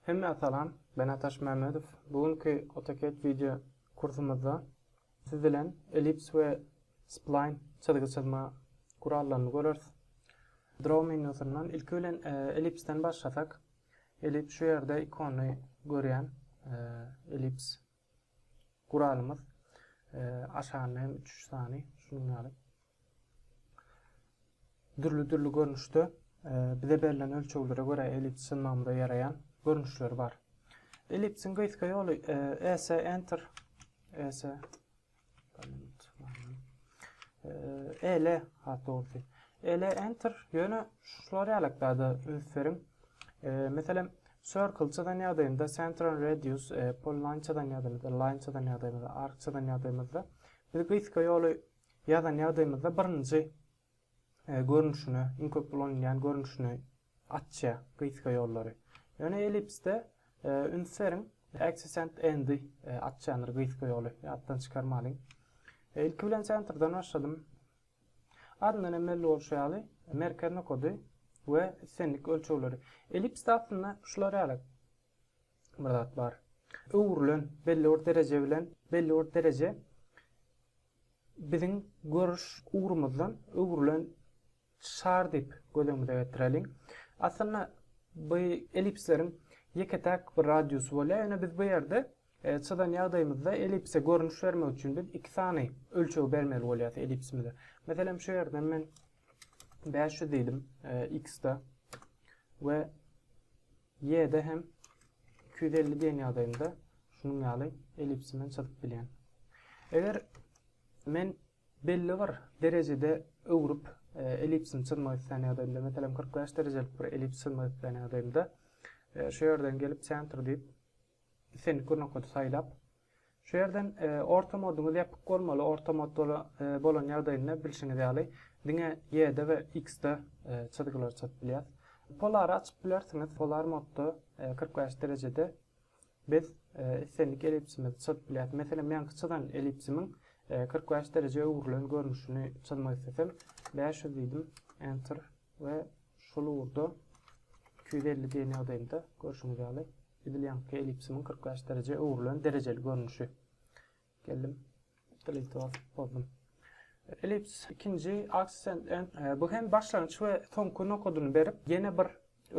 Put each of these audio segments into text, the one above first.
Hemmä salam, ben Ataş Mämmedow. Bu günki AutoCAD wideo kursumyzda siz bilen ellips we spline çyzgy çyzma gurallaryny göreris. Draw menýusyndan ilki bilen e, ellipsden başlasak, ellips şu ýerde ikony görýän, e, ellips Guralymyz aşagynda hem üç sany şunuň ýaly dürli-dürli görnüşde bize berlen ölçeglere görä ellips synmagymyza ýaraýan görnüşleri bar. Ellipsiň gysga ýoly ES Enter ES Ele, hat dogrusy. Ele enter ýöne şular ýalak zada üns beriň. E, meselem, circle çyzan ýagdaýynda center and radius, e, polyline çyzan ýagdaýymyzda, line çyzan ýagdaýymyzda, arc çyzan ýagdaýymyzda biz gysga ýoly ýazan ýagdaýymyzda birinji görnüşine, iň köp ulanylýan görnüşine açýar gyzka ýollary. Ýöne ellipsde üns beriň, axis and endy açýandyr gyzka ýoly, ýatdan çykarmalyň. Ilki bilen sentrden başladym. Adyndan hem belli bolşy ýaly, merkez nokady we islendik ölçegleri. Ellipsde aslynda şular ýaly bir zat bar. Öwrülen belli bir dereje bilen belli bir dereje Biziň görüş ugrumyzdan öwrülen şar diýip göz öňümize getireliň. Aslynda bu ellipsleriň ýeke-täk bir radiusy bolýar, ýöne biz bu ýerde çyzan ýagdaýymyzda ellipse görnüş bermek üçin biz iki sany ölçeg bermeli bolýas ellipsimize. Meselem, şu ýerden men bäş ýüz diýdim x-de we Y-de hem iki ýüz elli diýen ýagdaýymda şunuň ýaly ellipsi bilen çyzyp bilýän. Eger men belli bir derejede öwrüp e, ellipsini çyzmak isleýän ýagdaýymda, meselem 45 derejelik bir ellips çyzmak isleýän ýagdaýymda e, şu ýerden gelip center diýip islendik bir nokady saýlap Şu ýerden orta moduňyz ýapyk bolmaly, orta mod bolan ýagdaýynda bilşiňiz ýaly diňe Y-de we X-de çyzgylary çyzyp bilýäs. Polary açyp bilersiňiz, polar modda kyrk bäş derejede biz islendik elipsimizi çyzyp bilýäs. Meselem meňki çyzan elipsimiň kyrk bäş dereje öwrülen görnüşini çyzmak isteseň bäş ýüz diýdim, enter. we şol ugurda iki ýüz elli diýen ýagdaýynda görşüňiz ýaly edil ýaňky ellipsimiň kyrk bäş derejä öwrülen derejeli görnüşi. Geldim, delete basyp bozdum. Ellips ikinji accent and e, bu hem başlangyç we soňky nokadyny berip, ýene bir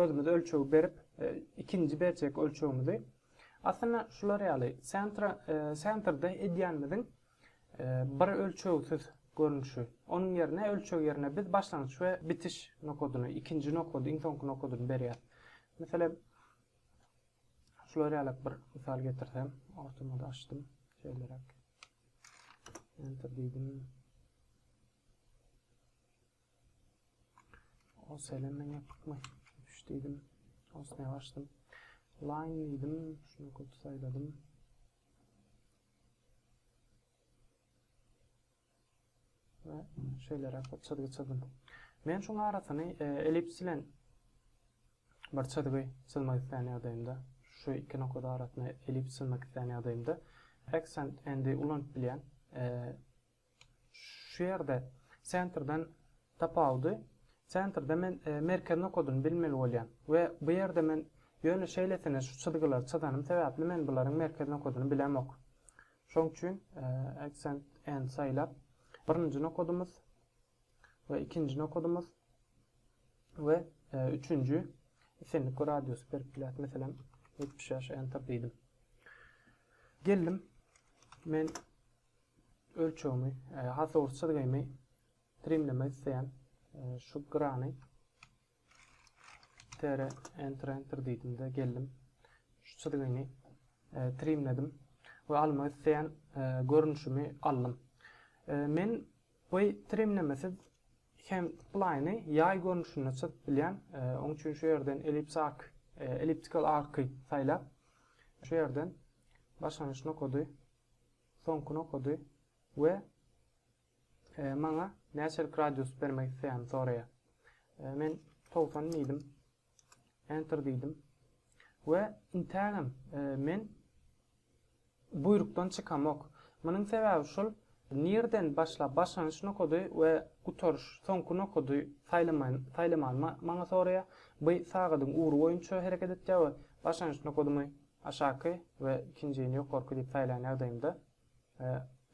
özümiz ölçegi berip, e, ikinji berjek ölçegimizi. Aslynda şular ýaly, sentra, e, sentrde edýänimiziň bir ölçegsiz görnüşi. Onuň ýerine ölçeg ýerine biz başlangyç we bitiş nokadyny, ikinji nokady, iň soňky nokadyny berýäris. Meselem, şular ýaly bir mysal getirsem, ortama da açdym. Şeýleräk. Enter diýdim. O selemen ýapykmy? Üç diýdim. Osna açdym. Line diýdim. Şunu köp saýladım. we şeýleräk bir çyzgy çyzdym. Men şuň arasyny e, ellips bilen bir çyzgy çyzmak islän ýagdaýymda, şu iki nokada arasyny ellips çyzmak islän ýagdaýymda accent endi ulanyp bilýän. E, Şu ýerde sentrden tapawudy sentrde men merkez nokadyny bilmeli bolýan we bu ýerde men ýöne şeýlesine şu çyzgylary çyzanym sebäpli men bularyň merkez nokadyny bilemok. Şoň üçin accent and saýlap birinji nokadymyz we ikinji nokadymyz we üçünji islendik bir radiusy berip bileris. Meselem 75 enter diýdim. Geldim. Men Ölçegimi, hasawur çyzgymy trimlemek isleýän. Şu grany tere enter enter diýdimde geldim. Şu çyzgyny trimledim we almak isleýän görnüşimi aldym. Men bu trimlemesiz hem splaýny ýaý görnüşinde çyzyp bilýän. E, oň üçin şu ýerden ellips ark, e, elliptical arky saýlap, şu ýerden başlangyç nokady Soňkyny okady we maňa näçelik radius bermek isleýänimi soraýar. Men togsan diýdim. Enter diýdim. We intägem men buýrukdan çykamok. Munuň sebäbi şul, nirden başlap, başlanyş nokady we gutaryş, soňky nokady saýlamany maňa soraýar. Bu sagadyň ugry boýunça hereket etýär we başlanyş nokadymy, Aşaky we ikinjini ýokarky diýip saýlan ýagdaýymda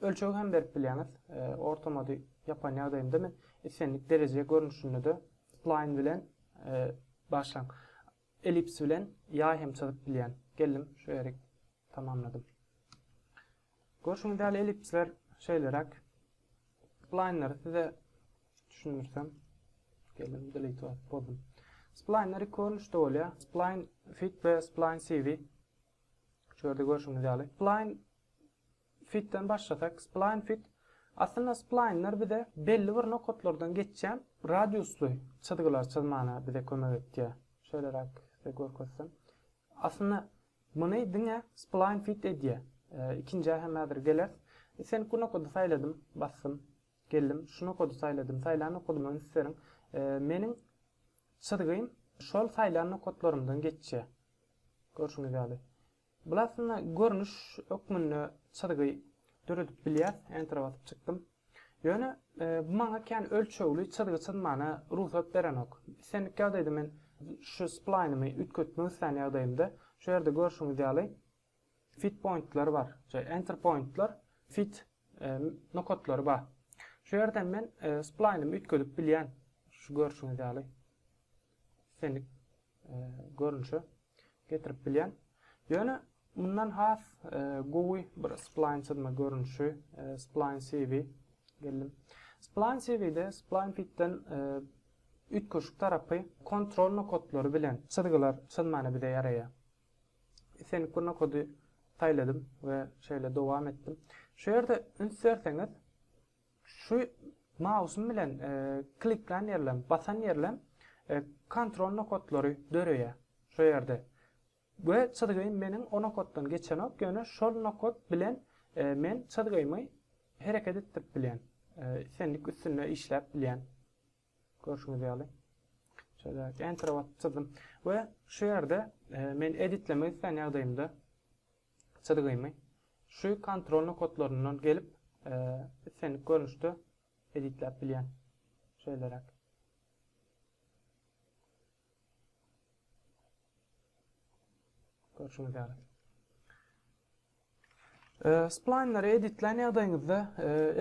ölçegi hem berip bilýäňiz. Ortamady ýapan ýagdaýymda men islendik dereje görnüşinde-de spline bilen başlaň ellips bilen ýaý hem çyzyp bilýän. Geldim şu ýeri tamamladym. Görşüňiz ýaly ellipsler şeýleräk. Splaýnlary size düşündirsem. Geldim delete basyp boldum. Splaýnlar iki görnüşde bolýar. Splaýn fit we splaýn CV. Şu ýerde görşüňiz ýaly. Splaýn fitden başlasak, splaýn fit Aslynda splaýnlar bize belli bir nokatlardan geçýän radiusly çyzgylar çyzmana bize kömek etýär. Şeýleräk size görkezsem. Aslynda muny diňe spline fit edýä. Ikinjä hem häzir geleris. Islendik bu nokady saýladym, basdym. Geldim, şu nokady saýladym. Saýlan nokadyma üns beriň. Meniň çyzgym şol saýlan nokatlarymdan geçýä. Görşüňiz ýaly. Bul aslynda görnüş hökmünde çyzgy döredip bilýäs. Enter basyp çykdym. Ýöne, bu maňa kän ölçegli çyzgy çyzmana rugsat berenok. Islendik ýagdaýda men şu splaýnymy üýtgetmek islän ýagdaýymda, şu ýerde görşüňiz ýaly, fit pointler bar, je, enter pointler, fit nokatlary bar. Şu ýerden men splaýnymy üýtgedip bilýän, şu görşüňiz ýaly, islendik. görnüşe getirip bilýän. Ýöne mundan has gowy bir spline çyzma görnüşi spline CV geldim. Spline CV-de spline pitden üýtgeşik tarapy kontrol nokatlary bilen çyzgylar çyzmana bize ýaraýar. Islendik bir nokady saýladym we şeýle dowam etdim. Şu ýerde üns berseňiz, Şu mausym bilen kliklän ýerlem, basan ýerlem kontrol nokatlary döreýär şu ýerde. We çyzgym meniň o nokatdan geçenok, ýöne şol nokat bilen men çyzgymy hereket etdirip bilýän. Islendik üstünde işläp bilýän. Görşüňiz ýaly. Şeýle entere basyp çyzdym. We şu ýerde men editlemek islän ýagdaýymda çyzgymy şu kontrol nokatlaryndan gelip islendik görnüşde editläp bilýän. Şeýleräk. Görşüňiz ýaly. Splaýnlary editlän ýagdaýyňyzda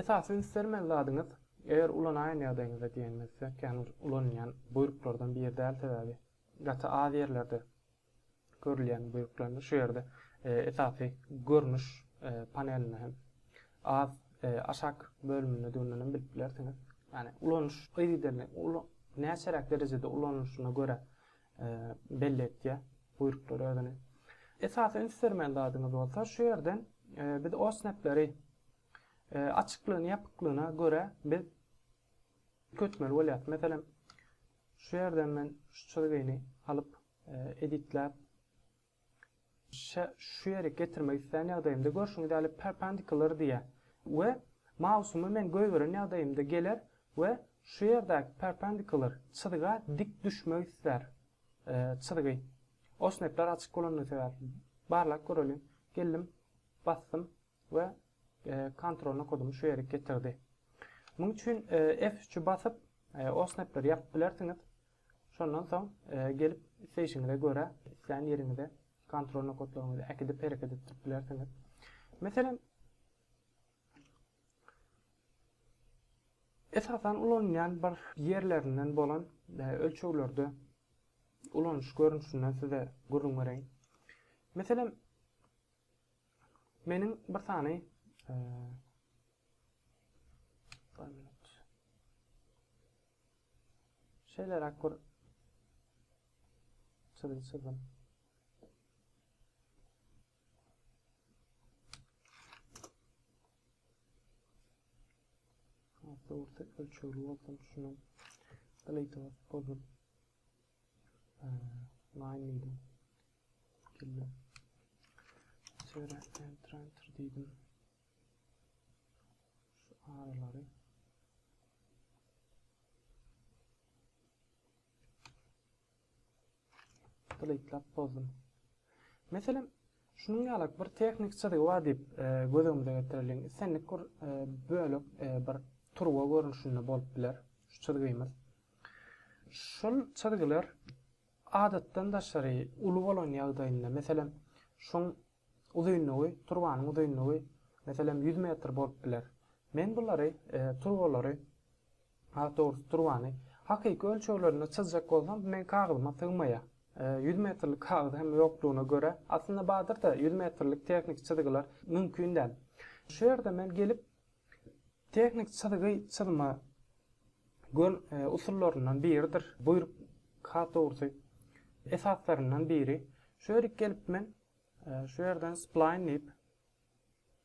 esasy üns bermeli zadyňyz eger ulanaýan ýagdaýyňyzda diýenimizde, kän ulanylýan buýruklardan biri däl sebäbi gaty az ýerlerde Görülýän bölüklerinde şu ýerde esasy görnüş panelinde hem az aşak bölüminde düýnden hem bilip bilersiňiz. Ýani ulanyş yzygiderli näçeräk derejede ulanylyşyna görä belli etýär buýruklar özüni. Esasy üns bermeli zadyňyz bolsa şu ýerden biz OSNAP-leri açyklygyna ýapyklygyna görä biz köçmeli bolýar. Meselem şu ýerden men şu çyzgyny alyp editläp şä şu ýerik getirmek islän ýagdaýymda görşüňiz ýaly perpendicular diýýär we mausumy men goýberen ýagdaýymda geler we şu ýerdäki perpendicular çyzga dik düşmek islär çyzgy osnepler açyk bolandygy sebäpli barlap göreliň geldim basdym we kontrolna kodumy şu ýerik getirdi. Muň üçin F3-i basyp, OSNAP-leri ýapyp bilersiňiz. Şondan soň gelip isleýşiňize görä islän ýeriňize kontrolna kodlaryňyzy äkidip hereket etdirip bilersiňiz. Meselem, Esasan ulanylýan bir ýerlerinden bolan e, ölçeglerde ulanyş görnüşinden size gürrüň bereýin. Meselem, Meniň bir sany şeýle rakur çyzygy çyzdym. Hatta orta ölçegli olsun şunu. Delete olsun. Line diýdim. Geldi. Şöyle enter enter diýdim. Şu aralary deletelap bozdum. Meselem, Şunuň ýalak bir tehnik çyzygy bar diýip göz öňümize getireliň. Islendik bir bölek bir turba görnüşinde bolup biler şu çyzgymyz. Şol çyzgylar adatdan daşary uly bolan ýagdaýynda, meselem, şuň uzynlygy, turbanyň uzynlygy, meselem, 100 metr bolup biler. Men bulary, turbalary Has dogrusy turbany hakyky ölçeglerinde çyzjak bolsam meň kagyzyma sygmaýar. Ýüz metrlik kagyz hem ýokdugyna görä, aslynda badyrda ýüz metrlik tehniki çyzgylar mümkin däl. Şu ýerde men gelip tehniki çyzgy çyzma gön usullaryndan biridir, buýruk has dogrusy esaslaryndan biri. Şu ýerik gelip men şu ýerden splaýn diýip.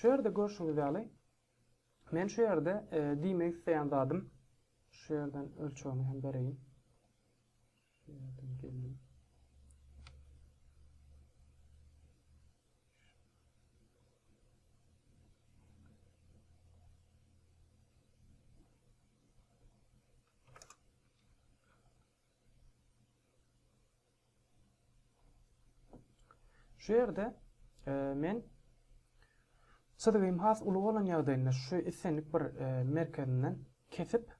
Şu ýerde görşüňiz ýaly, men şu ýerde e, diýmek isleýän zadym, şu ýerden ölçegini hem bereýin. Şu ýerden geldim. Şu ýerde men çyzgym has uly bolan ýagdaýynda şu islendik bir merkezinden kesip,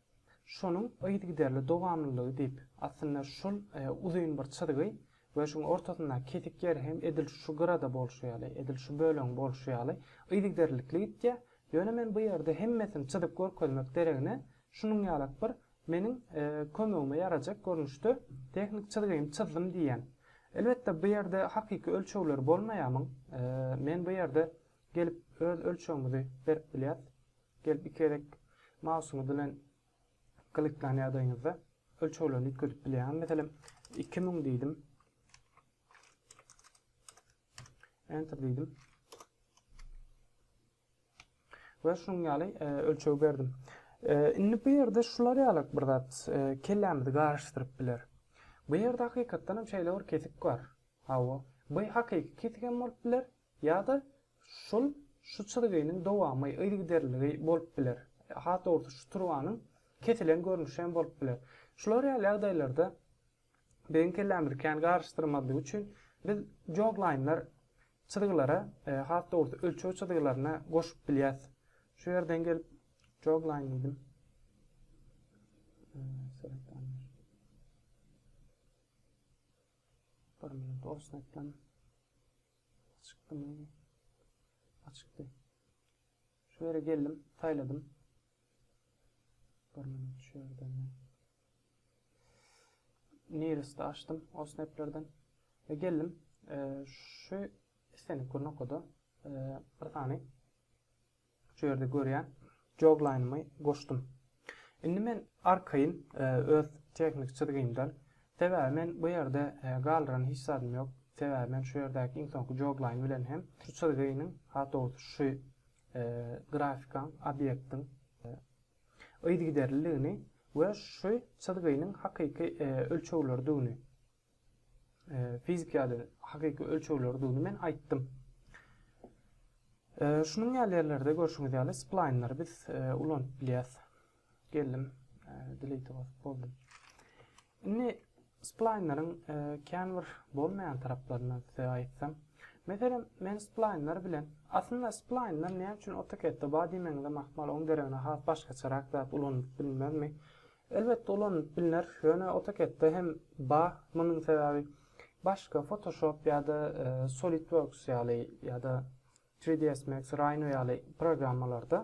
şonuň yzygiderli dowamlylygy diýip, aslynda şol uzyn bir çyzgy we şuň ortasyndaky kesik ýeri hem edil şu gyrada bolşy ýaly, edil şu bölegiň bolşy ýaly yzygiderlilikli gitýär. Ýöne men bu ýerde hemmesini çyzyp görkezmek deregine, şunuň ýalak bir Meniň kömegime ýarajak görnüşde tehnik çyzgymy çyzdym diýýän. Elbetde bu ýerde hakyky ölçegleri bolmaýamyň. Men bu ýerde gelip öz ölçegimizi berip bilýäs. Gelip iki gezek mausyňyz bilen kliklan ýagdaýyňyzda ölçeglerini üýtgedip bilýäňiz. Meselem, iki müň diýdim. Enter diýdim. we şunuň ýaly ölçeg berdim. Indi bu ýerde şular ýaly bir zat kellämizi garyşdyryp biler. Bu ýerde hakykatdan hem şeýle bir kesik bar. Hawa, bu hakyky kesik hem bolup biler, ýa-da şul şu çyzgynyň dowamy, yzygiderliligi bolup biler. Has dogrusy, şu turbanyň kesilen görnüşi hem bolup biler. Şular ýaly ýagdaýlarda Biziň kellämizi kän garyşdyrmazlyk üçin biz joglaýynlar çyzgylara, has dogrusy ölçeg çyzgylaryna goşup bilýäs. Şu ýerden gelip joglaýyn diýdim. Bir minut olsun etdim. Açykdymy? Açykdy. Şu ýere geldim, saýladym. Bir minut şu ýerden men Nearest açdym o snaplerden we geldim. Şu islendik bir nokada bir sany şu ýerde görýän joglanymy goşdum. Indi men arkaýyn öz tehnik çyzgymdan, sebäbi men bu ýerde galdyran hiç zadym ýok, sebäbi men şu ýerdäki iň soňky joglaýyn bilen hem şu çyzgynyň, has dogrusy şu grafikaň, obýektiň yzygiderliligini we şu çyzgynyň hakyky ölçegleridigini, e, fizik ýaly hakyky ölçegleri duny men aýtdym. E, şunuň ýaly ýerlerde görşüňiz ýaly splaýnlary biz e, ulanyp bilýäs. Geldim, e, delete basyp boldum. Indi splaýnlaryň e, kän bir bolmaýan taraplaryny size aýtsam. Meselem, men splaýnlar bilen, aslynda splaýnlar näme üçin AutoCAD-de bar diýmegiňiz mahmal, onuň deregine has başgaçarak zat ulanyp bilmezmi? Elbetde ulanylyp bilner, ýöne AutoCAD-de hem bar, munuň sebäbi başga Photoshop ýa-da Solidworks ýaly ýa-da 3ds Max, Rhino ýaly programmalarda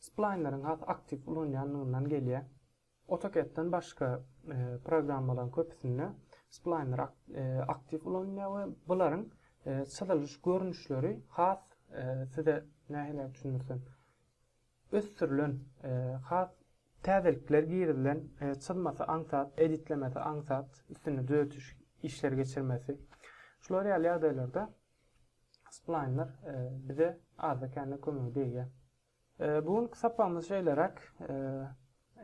splaýnleriň has aktiw ulanýandygyndan gelýär. AutoCAD-den başga programmalaryň köpüsinde splaýnlar aktiw ulanylýar we bularyň çyzylyş görnüşleri has size nähiliräk düşündirsem, ösdürilen, has täzelikler girizilen çyzmasy aňsat, editlemesi aňsat, üstünde düzeltiş işleri geçirmesi, şular ýaly ýagdaýlarda splaýnlar bize azda-kände kömegi degýär. Bu günki sapagymyz şeýleräk.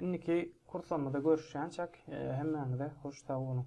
Indiki kurslarymyzda görüşýänçäk, hemmäňize hoş sag boluň!